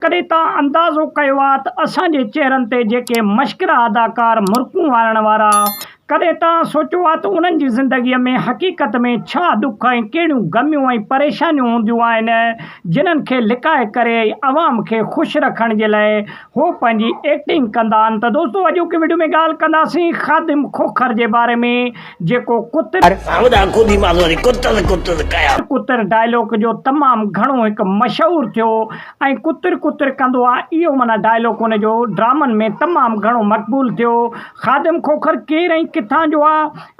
ڪڏهن توهان اندازو ڪيو آهي ته اسان جي چهرن تي جيڪي مشڪره اداڪار مرڪون وارڻ وارا آهن، ڪڏهن توهان سوچيو آهي ته انهن جي زندگيء ۾ حقيقت ۾ ڇا ڏک ۽ ڪهڙيون غميون ۽ پريشانيون هونديون آهن، جنهن کي لڪائي ڪري ۽ عوام کي خوش رکڻ جي لاء هو پنهنجي ايڪٽنگ ڪندا آهن ته دوستو اڄوڪي وڊيو ۾ ڳالهه ڪنداسين خادم کوکر جي باري ۾، جيڪو ڪتر. سائو ڏاڪو ڌي ماس وري ڪتر ڪتر ڪيا. ڪتر ڊائلاگ جو تمام گهڻو هڪ مشهور ٿيو ۽ ڪتر ڪتر ڪندو آ اهو معنيٰ ڊائلاگ هن جو ڊرامن ۾ تمام گهڻو مقبول ٿيو خادم کوکر ڪير ۽ ڪٿان جو آ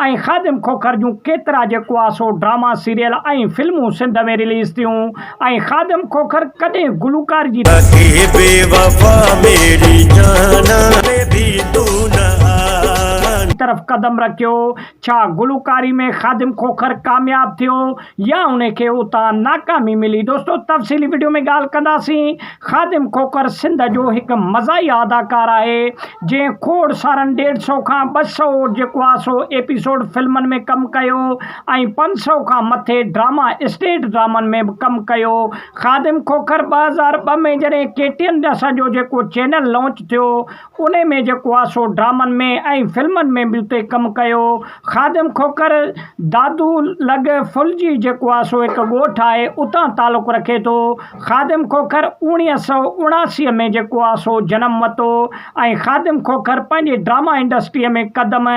۽ خادم کوکر جون ڪيترا جيڪو آ سو ڊراما سيريل ۽ فلمون سنڌ ۾ رليز ٿيون ۽ خادم کوکر ڪڏهن گلوڪار جي. ڪي بي وفا ميري جانا ۾ ڀي تون نه آن. طرف قدم رکيو، ڇا گلوڪاري ۾ خادم کوکر ڪامياب ٿيو يا ان کي اتان ناڪامي ملي دوستو تفصيلي وڊيو ۾ ڳالهه ڪنداسين. خادم کوکر سنڌ جو هڪ مزاحيه اداڪار آهي، جنهن کوڙ سارن ڏيڍ سئو کان ٻه سئو جيڪو آهي سو ايپيسوڊ فلمن ۾ ڪم ڪيو ۽ پنج سئو کان مٿي ڊراما اسٽيج ڊرامن ۾ به ڪم ڪيو. خادم کوکر ٻه هزار ٻه ۾ جڏهن ڪي ٽي اين اسان جو جيڪو چينل لانچ ٿيو انهي ۾ جيڪو آ سو ڊرامن ۾ ۽ فلمن ۾ به اتي ڪم ڪيو. خادم کوکر دادو لڳ ڦلجي جيڪو آ سو هڪ ڳوٺ آهي اتان تعلق رکي ٿو. خادم کوکر اوڻيهه سؤ اڻاسي ۾ جيڪو آ سو جنم وتو ۽ خادم کوکر پنهنجي ڊراما انڊسٽري ۾ قدم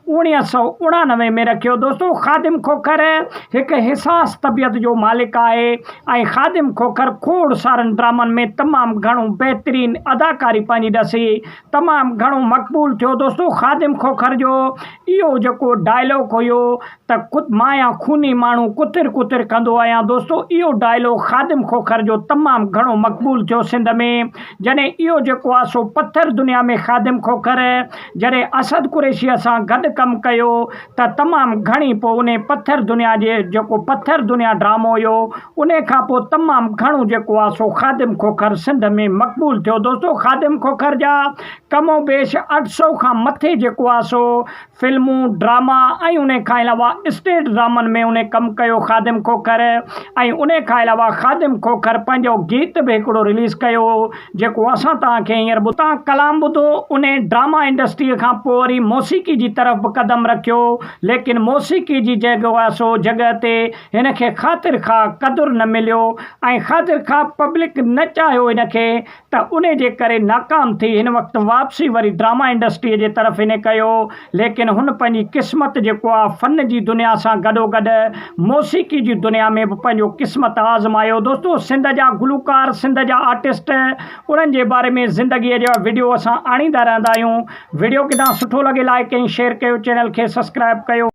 اڻيهه سؤ اڻانوي ۾ رکيو. دوستو خادم کوکر هڪ حساس طبيعت جو مالڪ آهي ۽ خادم کوکر کوڙ سارن ڊرامن ۾ تمام گهڻو بهترين اداڪاري پنهنجي ڏسي تمام گهڻو مقبول ٿيو دوستو خادم کوکر جو اهو جيڪو ڊائلاگ هيو ته ڪت مايا خوني ماڻهو ڪتر ڪتر ڪندو آهيان دوستو اهو ڊائلاگ خادم کوکر جو تمام گهڻو مقبول ٿيو سنڌ ۾ جڏهن اهو جيڪو آهي سو پٿر دنيا ۾ خادم کوکر جڏهن اسد قريشيء سان گڏ ڪم ڪيو ته تمام گهڻي پوء انهي پٿر دنيا جي جيڪو پٿر دنيا ڊرامو هيو انهي کان پوء تمام گهڻو جيڪو آ سو خادم کوکر سنڌ ۾ مقبول ٿيو دوستو خادم کوکر جا ڪم و بيش اٺ سؤ کان مٿي جيڪو آ سو فلمون ڊراما ۽ انهي کان علاوه اسٽيج ڊرامن ۾ انهي ڪم ڪيو خادم کوکر ۽ انهي کان علاوه خادم کوکر پنهنجو گيت به هڪڙو رليز ڪيو جيڪو اسان توهان کي هينئر ٻڌتان ڪلام ٻڌو انهي ڊراما انڊسٽريء کان پوء وري موسيقي جي طرف به قدم رکيو ليڪن موسيقي جي جيڪو آهي سو جڳهه تي هن کي خاطر خواهه قدر نه مليو ۽ خاطر خواهه پبلڪ نه چاهيو هن کي ته انهي جي ڪري ناڪام ٿي هن وقت واپسي وري ڊراما انڊسٽريء جي طرف هن ڪيو ليڪن هن پنهنجي قسمت جيڪو آهي فن جي دنيا سان گڏوگڏ موسيقي جي دنيا ۾ به پنهنجو قسمت آزمايو دوستو سنڌ جا گلوڪار سنڌ جا آرٽسٽ انهن جي باري ۾ زندگي جا وڊيو اسان آڻيندا رهندا آهيون وڊيو ڪدا سٺو لڳي لائڪ ۽ شيئر ڪيو چينل کي سبسڪرائب ڪيو.